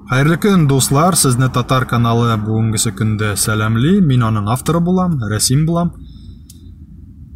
Хәерле көн, дуслар! Сезне Татар каналы бүгенгесе көндә сәламли. Мин аның авторы булам, рәсим булам.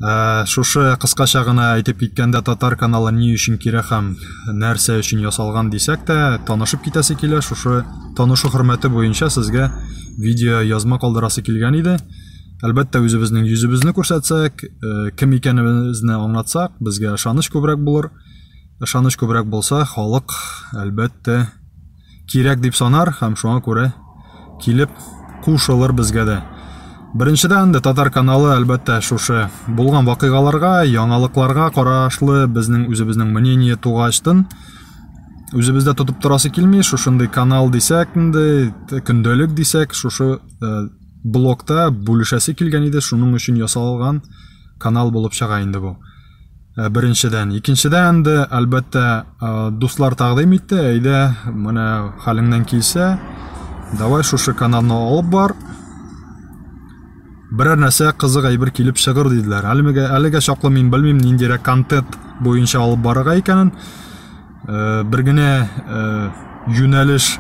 Ә, шушы кыскача гына әйтеп киткәндә Татар каналы ни өчен кирәк һәм нәрсә өчен ясалган дисәк тә, танышып китәсе килә. Шушы танышу хөрмәте буенча сезгә видео язма калдырасы килгән иде. Әлбәттә, үзебезнең йөзебезне күрсәтсәк, э, кем икәнебезне аңлатсак, безгә ышаныч күбрәк булыр. Ышаныч күбрәк булса, халык, әлбәттә, кирәк дип санар һәм шуңа күрә килеп кушылыр безгә дә. Беренчедән дә татар каналы әлбәттә шушы булган вакыйгаларга, яңалыкларга карашлы безнең үзебезнең мнение тугачтын үзебездә тотып торасы килми, шушындый канал дисәк инде, көндәлек дисәк, шушы э, блокта бүлешәсе килгән иде, шуның өчен ясалган канал булып чыга инде бу. Э, беренчедән икенчедән дә әлбәттә э, дуслар тәкъдим итте әйдә менә хәлеңнән килсә давай шушы каналны алып бар берәр нәрсә кызык әйбер килеп чыгыр диделәр әлегә әлегә чаклы мин белмим ниндирәк контент буенча алып барырга икәнен Э, бер генә э, юнәлеш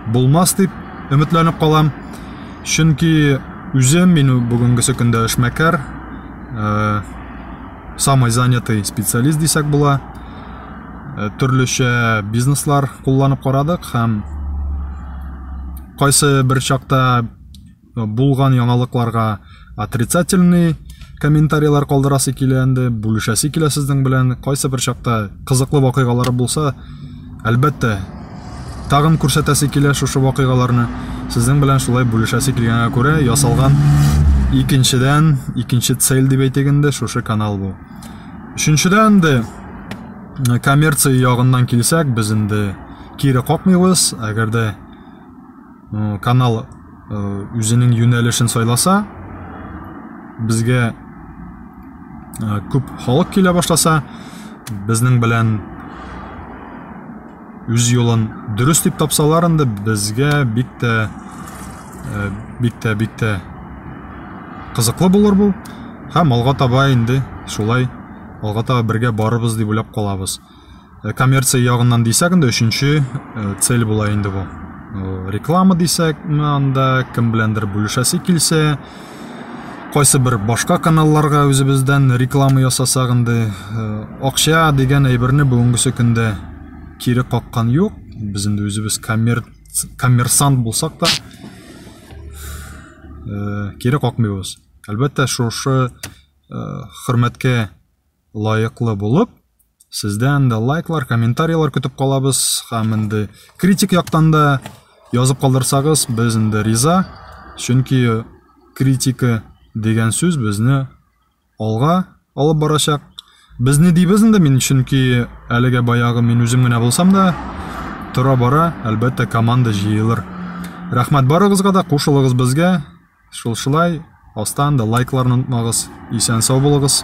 булмас дип өметләнеп калам чөнки үзем мин бүгенгесе көндә эшмәкәр э, самый занятый специалист дисәк була төрлечә бизнеслар кулланып карадык һәм кайсы бер чакта булган яңалыкларга отрицательный комментарийлар калдырасы килә инде, бүлешәсе килә сезнең белән. Кайсы бер чакта кызыклы вакыйгалары булса, әлбәттә, тагын күрсәтәсе килә шушы вакыйгаларны. Сезнең белән шулай бүлешәсе килгәнгә күрә ясалган икенчедән, икенче цель дип әйтик инде, шушы канал бу. Өченчедән дә коммерция ягыннан килсәк, без инде кире какмыйбыз, әгәр дә э, канал э, үзенең юнәлешен сайласа безгә э, күп халык килә башласа безнең белән үз юлын дөрес дип тапсалар инде безгә бик тә э, бик тә бик тә кызыклы булыр бу һәм алга таба инде шулай алга таба бергә барыбыз дип уйлап калабыз Э, коммерция ягыннан дисәк инде өченче э, цель була инде бу э, реклама дисәкме анда кем беләндер бүлешәсе килсә кайсы бер башка каналларга үзебездән реклама ясасак инде акча дигән әйберне бүгенгесе көндә кире каккан юк без инде үзебез коммер... коммерсант булсак та кире какмыйбыз әлбәттә шушы хөрмәткә лаеклы булып Сездән дә лайклар, комментарийлар көтеп калабыз. Һәм инде критик яктан да язып калдырсагыз, без инде риза. Чөнки критика дигән сүз безне алга алып барачак. Без не дибез инде мин, чөнки әлегә баягы мин үзем генә булсам да, тора бара, әлбәттә, команда җыелыр. Рәхмәт барыгызга да, кушылыгыз безгә. Шулшылай астан да лайкларны онытмагыз. Исән сау булыгыз.